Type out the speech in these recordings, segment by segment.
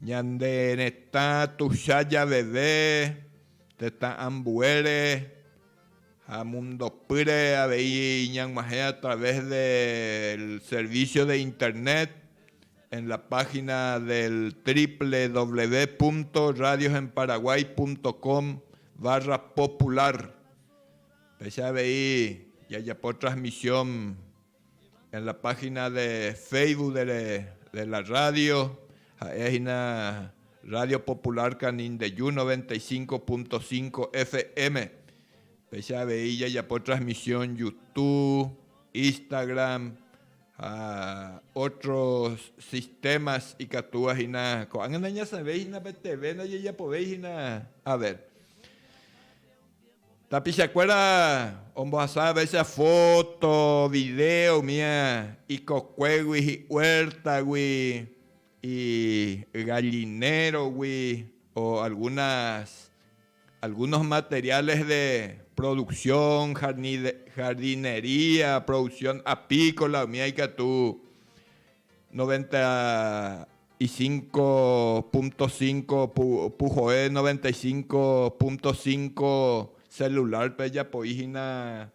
Ñande retã tuicha javeve tetã ambuére ha mundopýre avei ñag̃uahẽ a través del servicio de internet en la página del www.radiosenparaguay.com/popular. Péicha avei jajapo transmisión En la página de Facebook de, de la radio, ha'e hína Radio Popular Canindeyú 95.5 FM. Péicha avei jajapo transmisión YouTube, Instagram, ha otros sistemas ikatúva hína. Ko'ág̃a nañasẽvéi hína pe TV, ndajejapovéi hína a ver. Tapichakuéra ombohasávaicha fóto, vidéo umi ikokuégui, hi'uértagui, igallinérogui o algunas, algunos materiales de producción, jardinería, producción apícola umíva ikatu. Noventa y cinco punto cinco puhoe noventa y cinco punto cinco celularpe ejapoi hína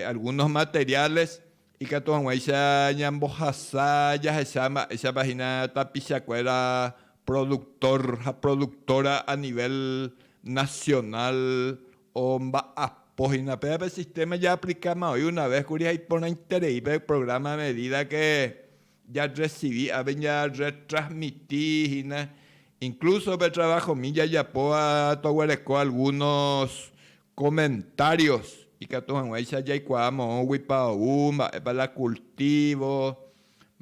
algunos materiales ikatu hag̃uáicha ñambohasa jahecha mba'éichapa hína tapichakuéra productor ha productora a nivel nacional Omba'apo hína péva pe sistéma jaaplikáma oĩ una ves kuri ha iporãiterei pe prográma a medida ke jarresivi avei jarretrasmiti hína. Inklúso pe travahomi jajapóva toguereko algúnos komentários ikatu hag̃uáicha jaikuaa moõguipa ou, mba'épa la kultívo,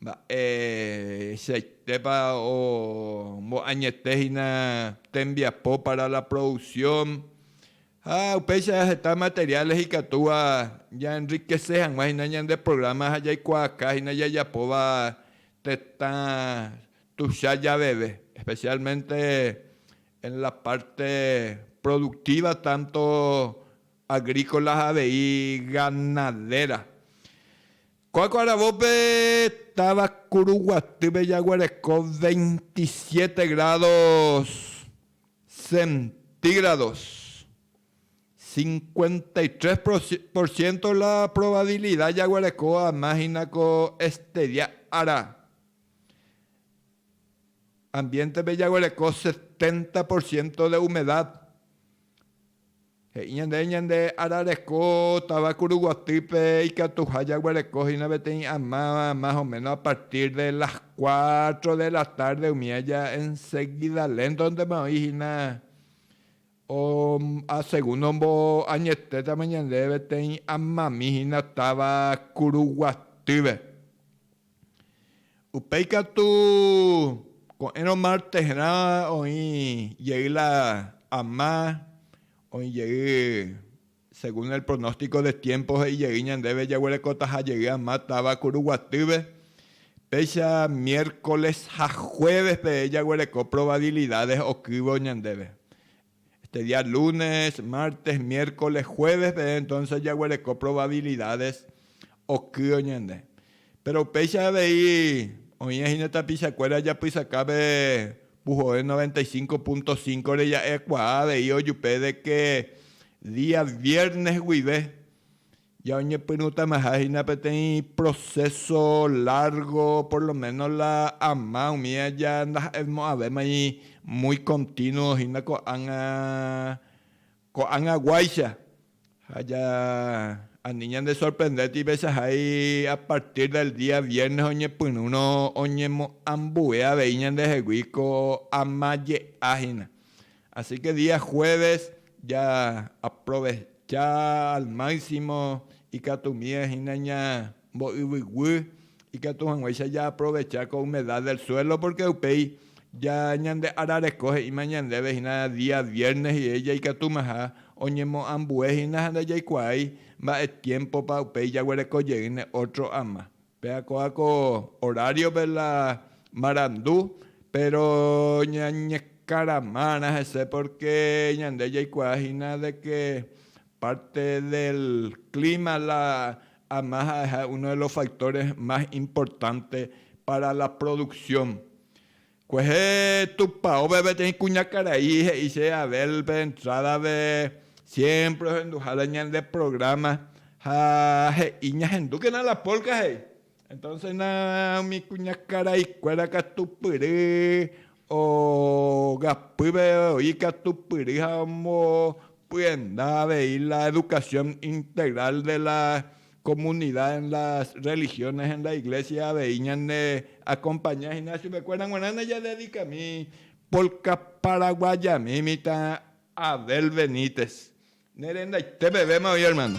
Mba'eichaitépa omboañete hína tembiapo para la producción ha upéicha heta materiales ikatúva ja enriquece hag̃ua hína ñande programa ha jaikuaaka hína jajapóva tetã tuicha javeve, especialmente en la parte productiva tanto agrícola ha avei ganadera. Ko'ág̃a aravópe táva Kuruguatýpe jaguereko veintisiete grádos centígrados, cincuenta y tres por ciento la probabilidad jaguereko ama hína ko este día ára. Ambiente-pe jaguereko setenta por ciento de humedad. He'i ñande ñande arareko táva Kuruguatýpe ikatuha jaguereko hína peteĩ amáva más o méno a partir de las cuatro de la tarde umi aja enseguida léntontema oĩ hína segundo omboañetétama ñande peteĩ amami hína táva Kuruguatýpe. Upéi katu, ko'ẽrõ martesrã oĩ jey la ama, oĩ jey según el pronóstico de tiempo he'i jey ñandéve jaguerekotaha jey ama táva kuru guatýpe, péicha miércoles ha jueves pe jaguereko probabilidades okývo ñandéve. Este día lunes, martes, miércoles, jueves peve entonces jaguereko probabilidades okýo ñande. Péro upéicha avei oĩva hína tapichakuéra japysakápe puhoe noventa y cinco punto cinco re ja'ekuaa avei ojupe de que día viernes guive Jaoñepyrũtamaha hína peteĩ proceso largo, por lo menos la ama umi aja ndaha'emo'ãvémai muy continuo hína ko'ág̃a, ko'ág̃aguáicha. Ha ja, ani ñandesorprende tívechahái a partir del día viernes oñepyrũrõ oñemo'ãmbue avei ñandehegui ko ama je'a hína. Asíke día juéves jaaprovecha al máksimo ikatumíva hína ñambo'yvyguy, ikatu hag̃uáicha jaaprovecha ko humedad del suelo, pórke upéi ñande arareko he'íma ñandéve hína día viernes rire jaikatumaha oñemoambue hína ha ndajaikuaái mba'e tiémpopa upéi jaguereko jeýne ótro ama. Péa ko'ã ko oráriope la marandu, péro ñañekaramárã hese pórke ñande jaikuaa hína de ke párte del klíma la ama ha'eha uno de los factores más importantes pára la produksión. Kuehe tupaópe peteĩ kuñakarai he'i che Abel pe entrádape, siémpre ohenduhára ñande prográma ha he'i ñahendúkena la pólka he'i. Entónse na umi kuñakaraikuéra katupyry ogapýpe oĩ katupyry ha ombopyenda avei la edukasión integral de la comunidad en las religiones en la iglesia avei ñane acompaña hína chupe kuéra g̃uarã ne jadedikami polka paraguayami mitã Abel Benítez ne rendaite pevéma oĩ hermano.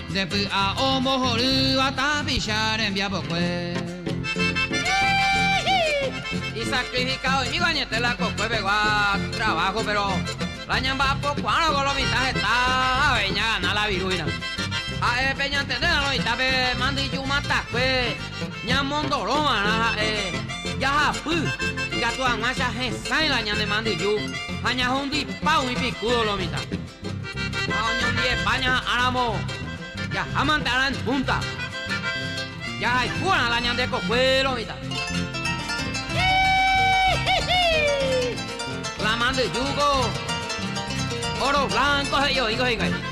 Nde py'a ombohorýva tapicha rembiapokue. Isakrifikadóimígo añete la kokue pegua traváho, péro la ñamba'apokuaárõko lo mitã heta avei ñagana la viruína. Ha'e pe ñantendérõ lo mitã pe mandyju matakue ñamondoro va'erã ha'e jahapy ikatu hag̃uáicha hesãi la ñane mandyju ha ñahundipa umi pikúdo lo mitã. Ha oñondive España ha ramo jahámante ára en punta, jahayhu va'erã la ñande kokuéro mitã. Híhíhíh! La mandyjúko óro blanco he'i oĩko hikuái. Híhíhíh!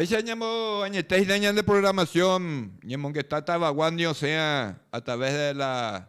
Péicha ñamo añete hína ñande programación, ñemongetátava Guandi osẽva a través de la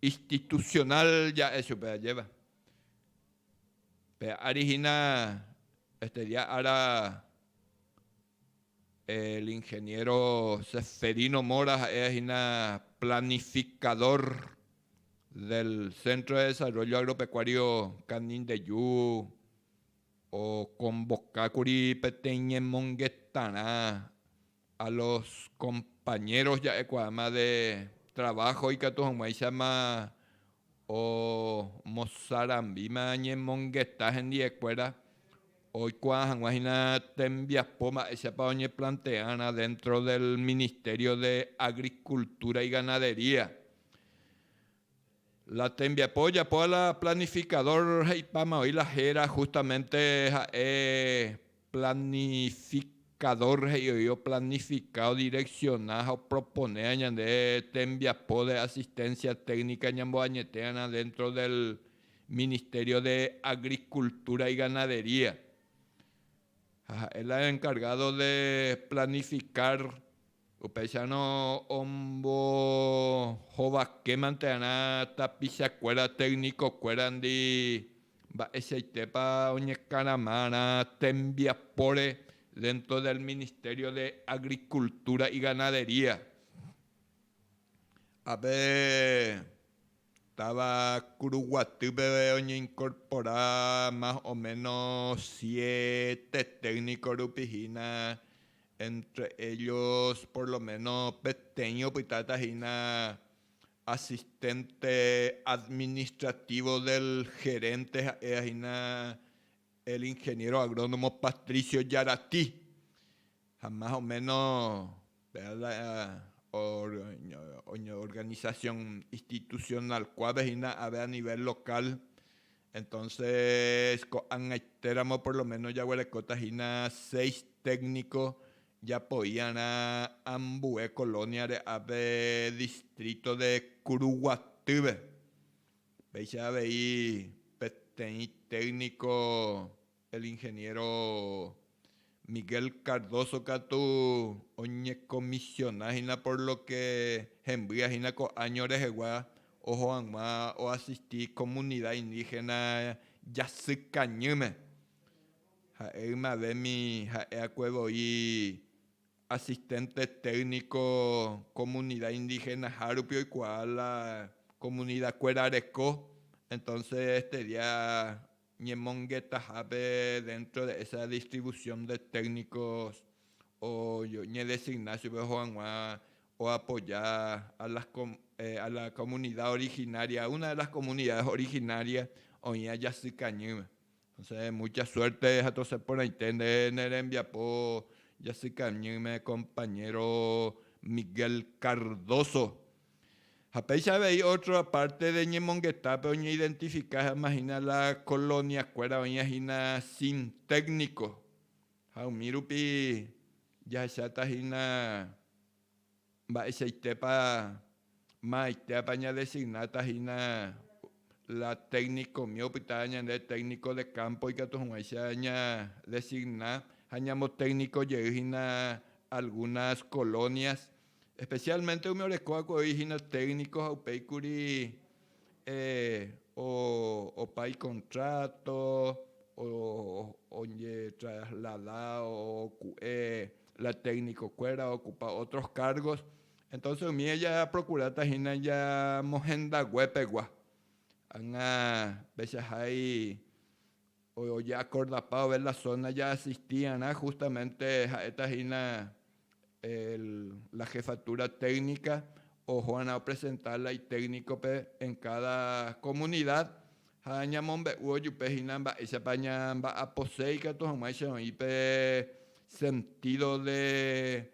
institucional ja'e chupe ajéva. Pe ári hína este día ára el ingeniero Seferino Mora ha'e hína planificador del Centro de Desarrollo Agropecuario Canindeyu okonvokákuri peteĩ ñemongetarã A los compañeros ja'ekuaáma de trabajo ikatu hag̃uáichama omosarambíma ñemongeta hendiekuéra oikuaa hag̃ua hína tembiapo mba'éichapa oñeplanteárã dentro del Ministerio de Agricultura y Ganadería. La tembiapo ojapo la planificador he'ipáma oĩ la héra justamente ha'e planificador he'i oĩ oplanifica, odirecciona ha oproponéva ñande tembiapo de asistencia técnica ñamboañetérarã dentro del Ministerio de Agricultura y Ganadería. Ha ha'e la encargado de planificar Upéicharõ ombohovakémante'arã tapichakuéra técnico-kuérandi mba'eichaitépa oñekarama'arã tembiapóre dentro del Ministerio de Agricultura y Ganadería. Ave. Táva Kuru Guatýpe oñeinkorpora más o méno siete tékniko rupi hína, éntre éllos por lo méno peteĩ opytáta hína asisténte administrativo del gerénte ha'éva hína el ingeniéro agrónomo Patricio Jarati. Ha más o méno péva oñeorganisasión institusionál kuápe hína ave a nivél lokál. Entónses ko'ag̃aitéramo por lo méno jaguerekóta hína seis tékniko japoi'arã ambue kolóniare ápe distríto de Kuruguatýpe. Péicha avei peteĩ tékniko El ingeniero Miguel Cardoso katu oñekomisiona hína por lo que hembýa hína ko áño rehegua oho hag̃ua oasisti komunida indígena Jasykañýme. Ha'e ymavémi ha'e'akue voi asistente técnico komunida indigenahárupi oikuaa la komunidakuéra reko, entonces este día Ñemongeta jave dentro de esa distribución de técnicos o ñedesigna chupe oho hag̃ua oapoya a las a la comunidad originaria, a una de las comunidades originarias oĩva Jasy Kañýme. Entonces mucha suerte jatosẽ porãite nde ne rembiapo Jasy Kañýme compañero Miguel Cardoso. Ha péicha avei ótro apárte de ñemongetápe oñeidentifiká hag̃ua hína la koloniakuéra oĩva hína sin tékniko, ha umi rupi jahecháta hína mba'eichaitépa maaitéapa ñadesignáta hína la téknikomi opytáva ñande tékniko de kámpo ikatu hag̃uáicha ñadesigna ha ñamotékniko jey hína algúnas kolónias Especialmente umi oreko va'ekue oĩ hína técnico ha upéi kuri opa icontrato, oñetraslada oku'e la técnico kuéra a ocupa otros cargos, entonces umi japrocurata hína ñamohendague pegua, ág̃a pechahái. Ojeakorda pave la zona jaasistiarã justamente ha'éta hína el la jefatura técnica ohorã opresenta la itécnico-pe en cada comunidad ha ñamombe'u ojupe hína mba'éichapa ñamba'aposéi katu hag̃ua che oĩ pe sentido de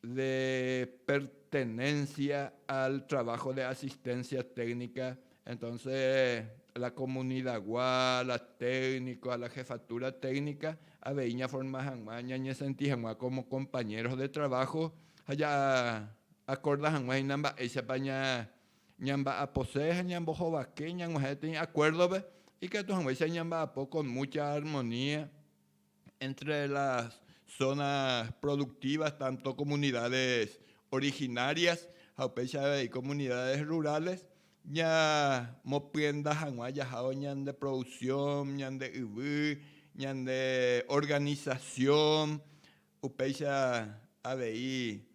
de pertenencia al trabajo de asistencia técnica, entonce la comunidagua, la técnico ha la jefatura técnica avei ñaforma hag̃ua ñañesenti hag̃ua como compañeros de trabajo ha ja'akorda hag̃ua hína mba'éichapa ñamba'apose ha ñambohovake ñag̃uahẽ peteĩ acuerdo-pe, ikatu hag̃uáicha ñamba'apo con mucha armonía. Entre las zonas productivas tanto comunidades originarias ha upéicha avei comunidades rurales ñamopyenda hag̃ua jahávo ñande producción, ñande yvy, ñande organización, upéicha avei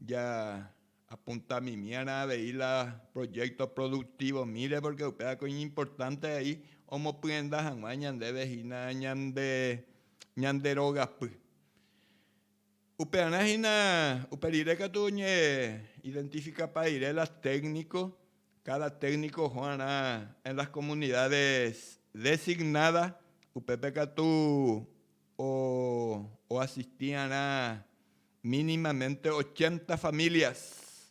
ja Apuntamimiarã avei la proyecto productivo-mire porque upévako iñimportante vai omopyenda hag̃ua ñandéve hína ñande ñande rogapy. Upearã hína upe rire katu oñe identificapa rire la técnico, cada técnico ohóarã en las comunidades designada, upépe katu o oasistiarã Mínimamente ochenta familias.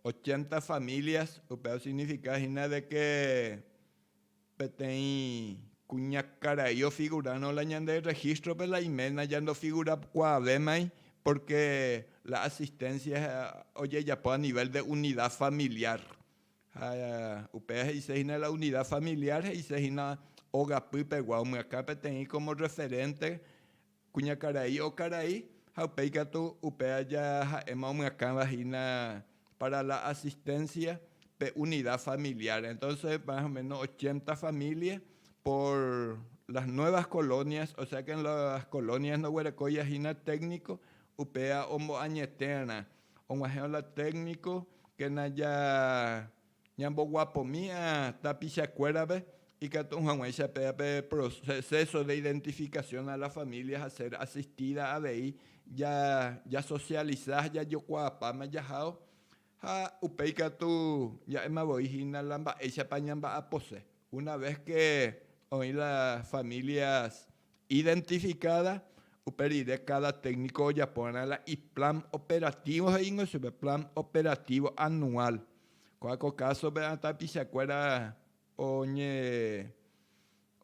Ochenta familias upe osignifica hína de que peteĩ kuñakarai ofigurárõ la ñande registro-pe la iména ja ndofigurakuaavemai porque la asistencia ojejapo a nivel de unidad familiar. Ha upéva he'ise hína la unidad familiar he'ise hína ogapy pegua omyakã peteĩ como referente Kuñakarai okarai ha upéi katu upe aja ha'éma omyakãva hína pára la asistencia pe unida familiar. Entonces más o menos ochenta familia por las nuevas colonias, osea que en las colonias ndoguerekóiva hína técnico, upéva omboañetérã, og̃uahẽva la técnico, kéna ja Ñamboguapomí'a tapichakuérape ikatu hag̃uáicha péva pe proceso de identificación a la familia ha ser asistida avei jasocializa ha jajokuaapáma jahao ha upe ikatu ja'éma voi hína la mba'éichapa ñamba'apose una vez que oĩ las familias Identificada, upe rire cada técnico ojaporã la iplan operativo he'íngo chupe, plan operativo anual. Ko'ã ko caso-pe tapichakuéra oñe,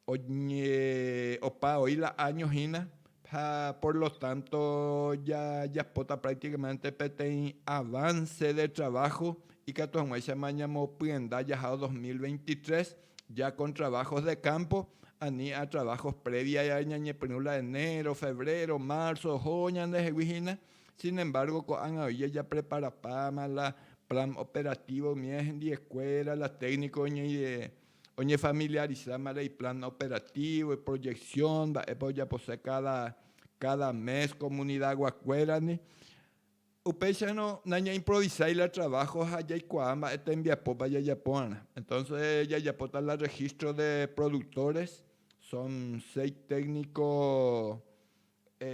oñe, opa oĩ la año hína ha por lo tanto jajapóta prácticamente peteĩ avance de trabajo ikatu hag̃uáichama ñamopyenda jahao dos mil veintitrés ya kon trabajos de campo ani a trabajos previa ñañepyrũ la enero, febrero, marzo oho ñandehegui hína, sin embargo ko'ág̃a oi jajapreparapáma la plan operativo umi hendiekuéra, la técnico oñefamiliarizáma la iplan operativo, iproyección, mba'épa ojapose cada mes comunidaguakuérandi. Upéicharõ nañaimprovisái la traváho ha jaikuaa mba'e tembiapópa jajapórã. Entónse jajapóta la rregístro de produktores, son seis tékniko,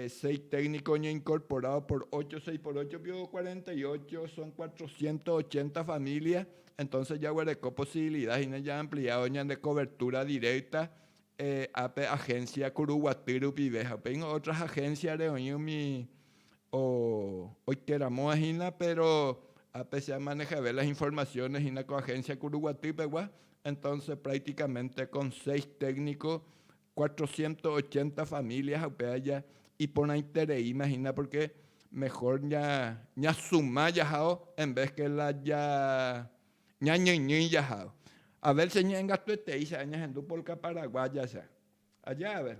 seis tékniko oñeinkorporádo por ocho, seis por ocho piko cuarenta y ocho, son cuatrocientos ochenta família, entónse jaguereko posibilida hína jaampliádo ñande kovertúra direkta ápe ahénsia Kuruguaty rupive ha upéingo ótras ahénsiare oĩ umi oikéramo'ã hína, péro ápe che amanejave las informasiónes hína ko agénsia kuru guaty pegua, entónse práktikamente kon séis tékniko cuatrocientos ochenta família ha upe aja iporãitereíma hína pórke mehór ñasuma jahao envés ke la ñañyñýi jahao. A vér che ñe'ẽngatuetéicha añahendu polka paraguáyacha. Aja a vér.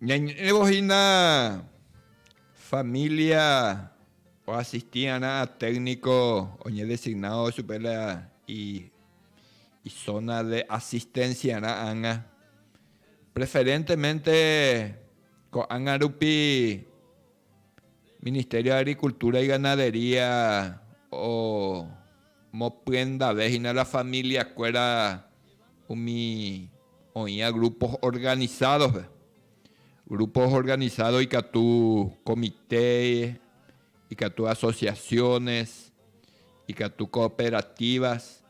Ñañe'ẽvo hína familia oasisti va'erã técnico oñedesignado chupe la izona de asistencia rã ág̃a. Preferentemente ko'ág̃a rupi Ministerio de Agricultura y Ganadería omopyendave hína la familiakuéra umi oĩva grupos organizados-pe. Grupos organizados ikatu comité, ikatu asociaciones, ikatu cooperativas.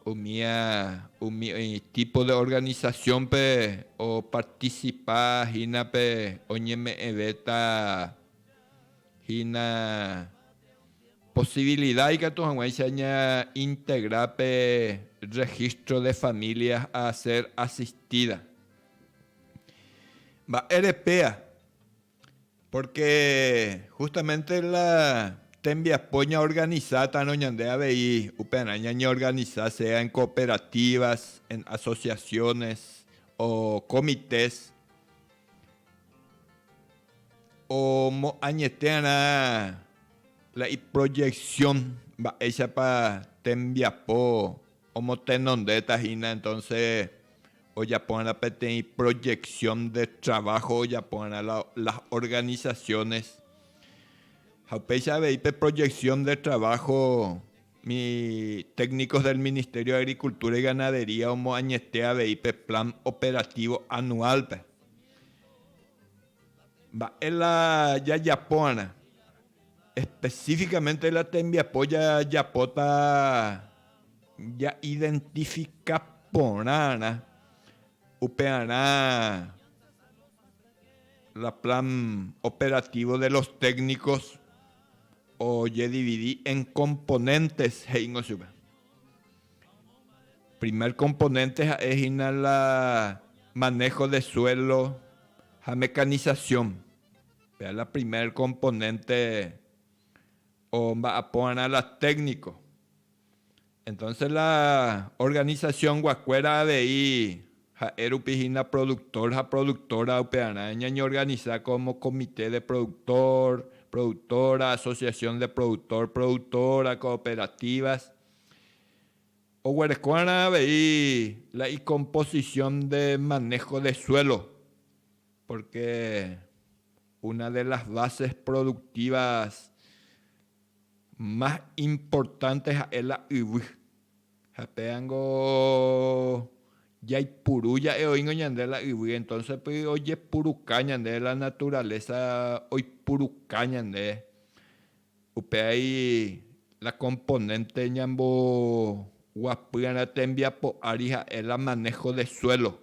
Umía umi oĩ típo de organisasiónpe opartisipa hína pe oñeme'ẽvéta hína posivilida ikatu hag̃uáicha ñaintegra pe Registro de Familias a Ser Asistida. Mba'érepea? Pórke hústamente la tembiapo ñaorganisátarõ ñande avei, upearã ñañeorganisa sea en cooperativas, en asociaciones o comités, omoañetéarã la iproyección mba'éichapa tembiapo Omotenondéta hína entonce ojapova'erã peteĩ proyección de trabajo ojapova'erã las organizaciones. Ha upéicha avei pe proyección de trabajo mi técnicos del Ministerio de Agricultura y Ganadería omoañete avei pe plan operativo anual-pe. Mba'e la jajapova'erã? Específicamente la tembiapo jajapóta ja identifica porãrã upearã la plan operativo de los técnicos ojedividi en componentes he'íngo chupe. Primer componente ha'e hína la manejo de suelo ha mecanización. Péa la primer componente omba'apóva'erã la técnico. Entonces la organización-guakuéra avei ha'e rupi hína productor ha productora upearã ñañeorganisa como comité de productor, productora, asociación de productor, productora, cooperativas. Oguerekóva'erã avei la icomposición de manejo de suelo Pórke una de las bases productivas más importantes ha'e la yvy. Ha péango jaipuru ja'e oĩngo ñande la yvy, entonce py ojepuruka ñande, la naturaleza oipuruka ñande. Upe ai la componente ñamboguapýrarã tembiapo ári ha'e la manejo de suelo.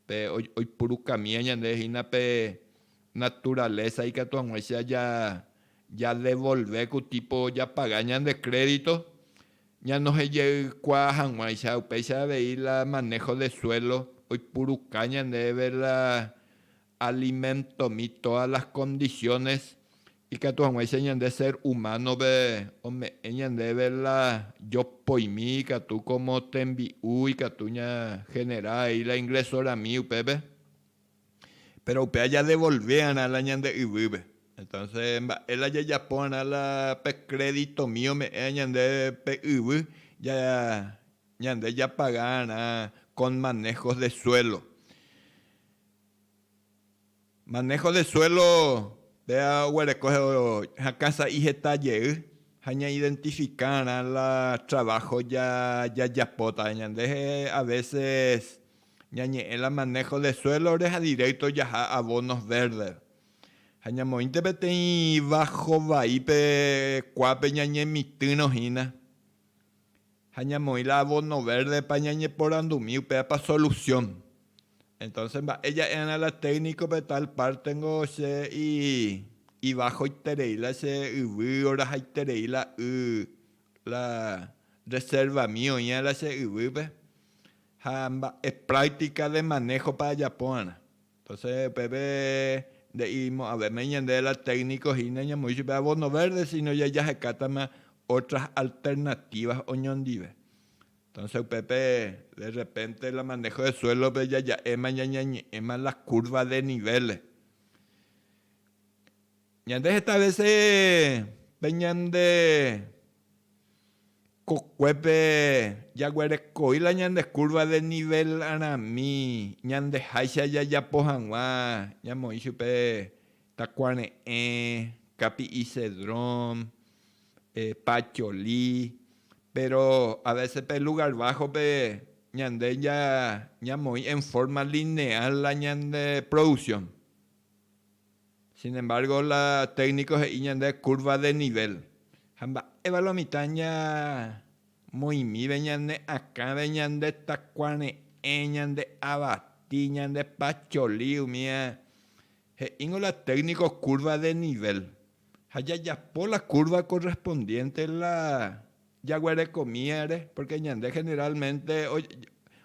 Pe oipurukamía ñande hína pe naturaleza ikatu hag̃uáicha jadevolve ku tipo japaga ñande crédito, ñanohejeikuaa hag̃uáicha. Upéicha avei la manejo de suelo oipuruka ñandéve la alimentomi todas las condiciones Ikatu hag̃uáicha ñande sér humánove ome'ẽ ñandéve la jopoimi ikatu kómo tembi'u ikatu ñahenerá he'i la inglesorami upépe. Péro upéva jadevolvéarã la ñande yvýpe. Entónse mba'e la jajaporã la pe kréditomi ome'ẽva ñande pe yvy ñande japagárã con manejos de suelo. Maného de suélo, péva oguereko hakã sa'i heta jey ha ñaidentifikárã la traváho jajapóta. Ñande avéses ñañe'ẽ la maného de suélore ha dirékto jaha avónos vérdeva. Ha ñamoĩnte peteĩ váho vai pe kuápe ñañemitỹrõ hína. ha ñamoĩ la abono verde-pa ñañeporandumi upévapa solución, entonces mba'e ja'erã la técnico-pe tal parte-nko che ibajoiterei la che yvy orajaiterei la y la reserva-mi oĩva la che yvýpe ha mba'e práctica de manejo-pa ajapórã. Tosẽ upépe nde'imo'ãvéma ñande la técnico hína ñamoĩ chupe abono verde sino ja jahekátama otras alternativas oñondive. Tosẽ upépe de repente la manejo de suelo-pe jaja'éma ñañañe'ẽma la curva de nivel-re. Ñande heta vese pe ñande kokuépe jaguerekoi la ñande curva de nivel rami ñandeháicha jajapo hag̃ua ñamoĩ chupe takuare'ẽ, kapi'i cedrón, pacholí, péro a vese pe lugár bájope ñande ñamoĩ en forma lineal la ñande produksión. Sin embargo, la técnico he'i ñande curva de nivel. Ha mba'éva la mitã ñamoĩmíve ñane akãve ñande takuare'ẽ, ñande avati, ñande pacholi, umi he'íngo la técnico curva de nivel. Ha jajapo la curva correspondiente la. Jaguerekomíva ere, pórke ñande generálmente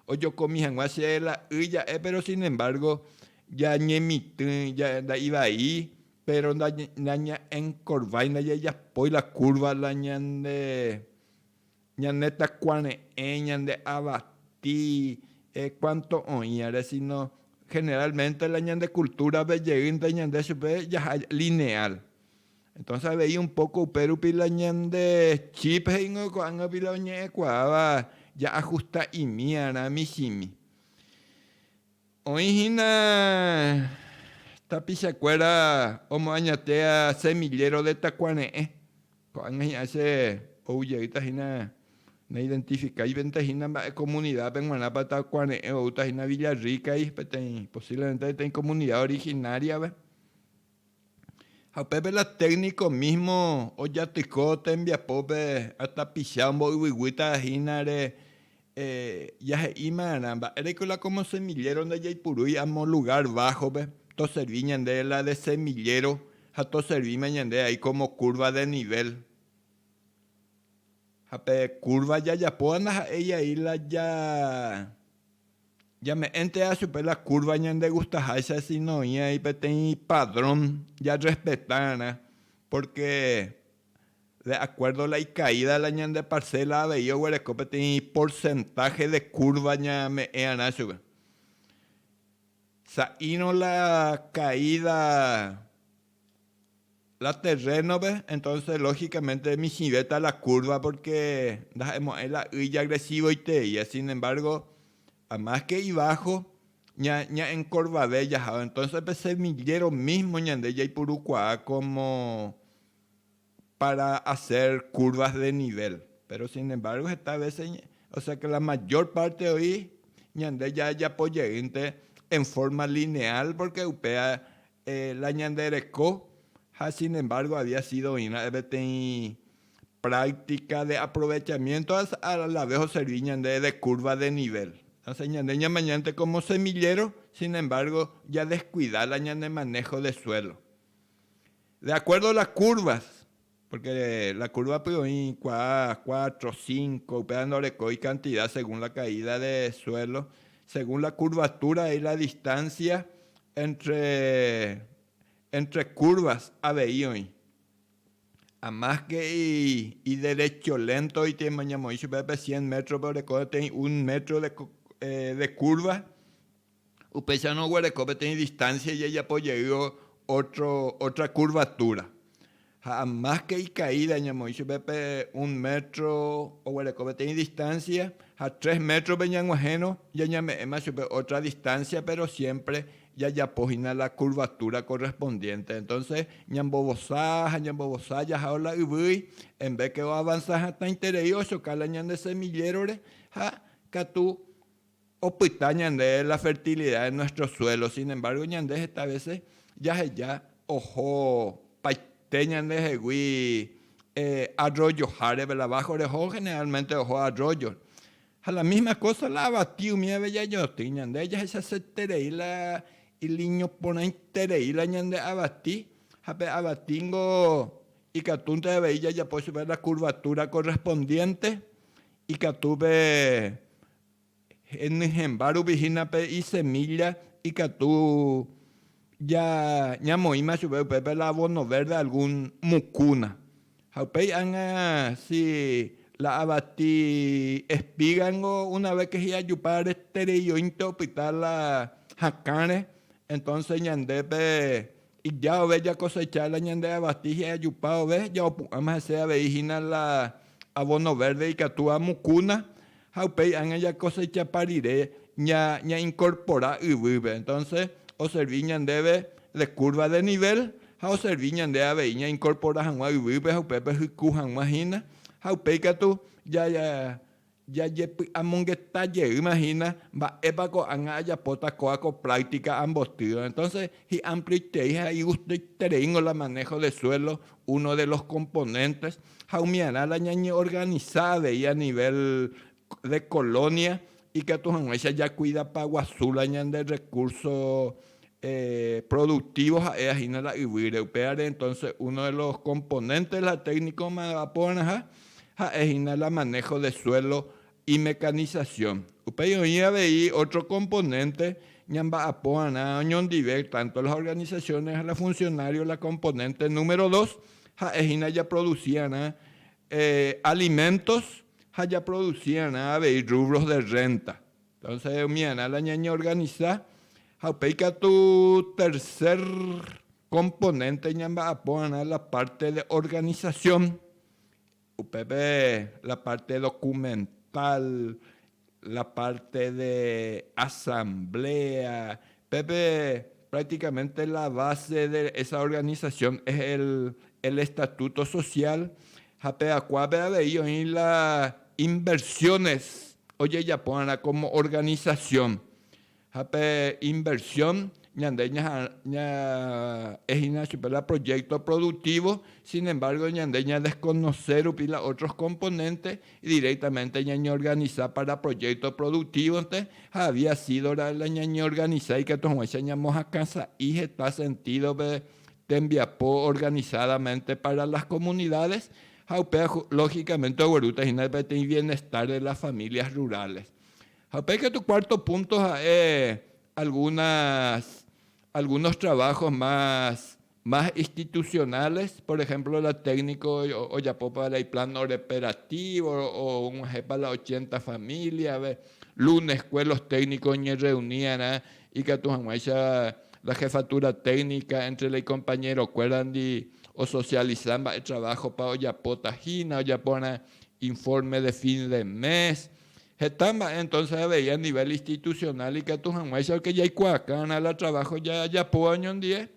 ojokomi hag̃ua che la y ja'e, péro sin embárgo jañemitỹ, nda'ivai, péro nañaenkorvái, ndajajapói la kúrva la ñande ñanetakuare'ẽ, ñande avati, kuánto oĩvare, síno generálmente la ñande kultúrape jeýnte ñande chupe jaha lineál. Entonces avei un poco upérupi la ñande chip he'ingo ko'ág̃api la oñe'ẽkuaáva ja'ajusta'imíarã michĩmi. Oĩ hína tapichakuéra omoañate semillero de takuare'ẽ, ko'ág̃a hi'ã che ou jeýta hína naidentifikáivente hína mba'e comunidad-pe g̃uarãpa takuare'ẽ oúta hína Villa Rica-i, peteĩ, posiblemente peteĩ comunidad originaria-pe. Ha upépe la técnico mismo ojatyko tembiapópe ha tapicha omboyvyguýta hínare jahe'ímarã mba'éreiko la como semillero ndajaipurúi amo lugar bajo-pe, toservi ñande la de semillero ha toservíma ñande ai como curva de nivel. Ha pe curva jajapóva ndaha'éi ai la ja. Jame'ẽntea chupe la kúrva ñandegustaháicha síno oĩ'ai peteĩ padrón jarrespetava'erã, pórke de akuérdo la ikaída la ñande parséla avei oguereko peteĩ porsentáhe de kúrva ñame'ẽ'arã chupe. Sa'írõ la kaída. la terreno-pe, entonces lógicamente michĩvéta la curva porque ndaha'emo'ãi la y jagresivoitei, sin embargo a más que ibajo ña'encorvave jaháva, entonces pe semillero mismo ñande jaipurukuaa como para hacer curvas de nivel, pero sin embargo heta veces, o sea que la mayor parte oĩ ñande jajapo jeýnte en forma lineal porque upéva la ñande reko ha sin embargo había sido oĩ ra'e peteĩ práctica de aprovechamiento ha a la vez o servi ñande de curva de nivel. Entonces ñande ñamañánte como semillero sin embargo ya descuida la ñande manejo de suelo. De acuerdo las curvas, porque la curva-pe oĩ kuaa, cuatro, cinco, upéva ndorekói cantidad según la caída de suelo, según la curvatura hay la distancia entre, entre curvas avei oĩ. A más que iderecho lento oite mañamoĩ chupe pe cien metros-pe oreko peteĩ un metro de, de curva, Upéicha noguereko peteĩ distancia ijajapo jey otro, otra curvatura. Ha más que icaída ñamoĩ chupe pe un metro oguereko peteĩ distancia, ha tres metro-pe ñag̃uahẽrõ jañame'ẽma chupe otra distancia, pero siempre jajapo hína la curvatura correspondiente. Entonces ñambovosa ha ñambovosa jahao la yvýi, en vez que oavanza hatãiterei ochoka la ñande semillero-re ha katu Opyta ñande la fertilidad de nuestro suelo, sin embargo ñande heta veces jaheja oho paite ñandehegui arroyoháre verdad, bajo reho generalmente oho arroyo, ha la misma cosa la avati umívape jañotỹ, ñande jahechaseterei la iliñoporãiterei la ñande avati, ha pe avati niko ikatúnte avei jajapo chupe la curvatura correspondiente ikatu pe Henyhẽmba rupi hína pe isemílla ikatu ñamoĩma chupe upépe la abono vérde algún mukúna. Ha upéi ág̃a si la avati espíga ningo una ves ke hi'ajupa retereioínte opyta la hakãre, entónse ñandépe Ija ove jakosecha la ñande avati hye ajupa ove, jaopu'ãma hese avei hína la abono verde ikatu amukúna, ha upéi ág̃a jakosechapa rire ñainkorpora yvýpe. Entonse oservi ñandéve de curva de nivel ha oservi ñande avei ñainkorpora hag̃ua yvýpe ha upépe hyku hag̃ua hína ha upéi katu Jajepy'amongeta jeýma hína mba'épa ko'ág̃a ajapóta kóva ko práctica ambotýva, entonces hi'amplíitei ha igustaitereíngo la manejo de suelo, uno de los componentes, ha umiarã la ñañeorganisa avei a nivel de colonia ikatu hag̃uáicha jakuidapaguasu la ñande recurso productivo ha'éva hína la yvýre, upévare entonce uno de los componentes de la técnica omba'aporãha ha'e hína la manejo de suelo y mecanización. Upéi oĩ avei otro componente ñamba'aporã oñondive tanto las organizaciones ha la funcionarios la componente número dos ha'e hína japroducirã alimentos ha japroducirã avei rubros de renta. Entonces omiarã la ñañeorganisa ha upéi katu tercer componente ñamba'aporãrã la parte de organización, upépe la parte documental, la parte de asamblea, Pépe prácticamente la base de esa organización es el estatuto social ha pe akuápe avei oĩ la inversiones ojejapo va'erã como organización. Ha pe inversión ñande ña'e hína chupe la proyecto productivo, sin embargo ñande ña desconoce rupi la otros componentes Directamente ñañeorganisa para proyecto productivo-nte ha había sido ra'e la ñañeorganisa ikatu hag̃uáicha ñamohakã sa'i heta sentido-pe tembiapo organizadamente para las comunidades ha upéva lógicamente oguerúta hína peteĩ bienestar de las familias rurales. Ha upéi katu cuarto punto ha'e algunas algunos trabajos más más institucionales, por ejemplo la técnico ojapópa la iplan oreperativo og̃uahẽpa la ochenta familia-pe, lunes-kue los técnicos oñerreunirã ikatu hag̃uáicha la jefatura técnica entre la icompañerokuérandi osocializa mba'e trabajo-pa ojapóta hína, ojaporã informe de fin de mes, heta mba'e entonces avei a nivel institucional ikatu hag̃uáicha porque jaikuaakárã la trabajo jajapóva oñondive.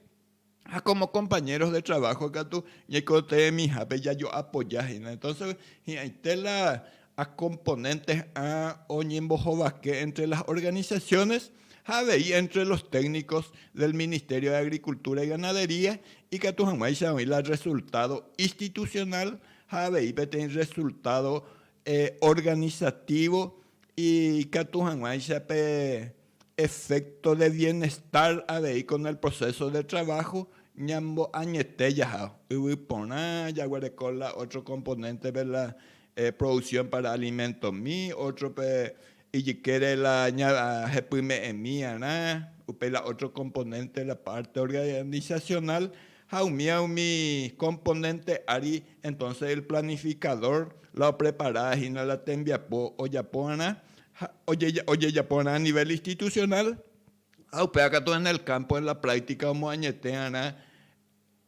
ha kómo kompañéros de traváho katu ñaikotevẽmihápe jajoapoja hína. Entónse hi'ãite la akomponénteha oñembohovake éntre las organisasiónes ha avei éntre los téknikos del Ministerio de Agricultura y Ganadería ikatu hag̃uáicha oĩ la rresultádo istitusionál ha avei peteĩ rresultádo organisativo ikatu hag̃uáicha pe Efecto de bienestar avei con el proceso de trabajo ñamboañete jaha yvy porã jaguereko la otro componente-pe la producción para alimento-mi, otro-pe ijykére la jepyme'ẽmiarã, upéi la otro componente la parte organizacional ha umíva umi componente ári entonces el planificador la opreparahína la tembiapo ojapovarã ha ojejaporã a nivel institucional ha upéva katu en el campo, en la práctica omoañeteva'erã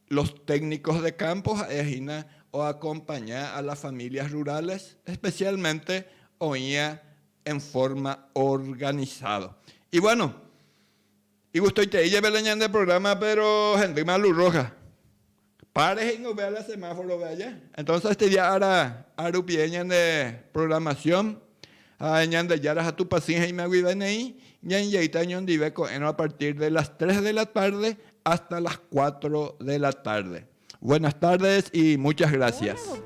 los técnicos de campo ha'e hína o acompaña a las familias rurales especialmente oĩva en forma organizado. Y bueno, igustoitei jepe la ñande programa, pero hendýma luz roja. Par reheñove ára semáforove aja. Entonces este día ára arupie ñande programación ha Ñandejára ha Tupãsy he'íma guive neĩ ñaingeita ñondive ko'ẽrõ a partir de las tres de la tarde hasta las cuatro de la tarde. Buenas tardes y muchas gracias.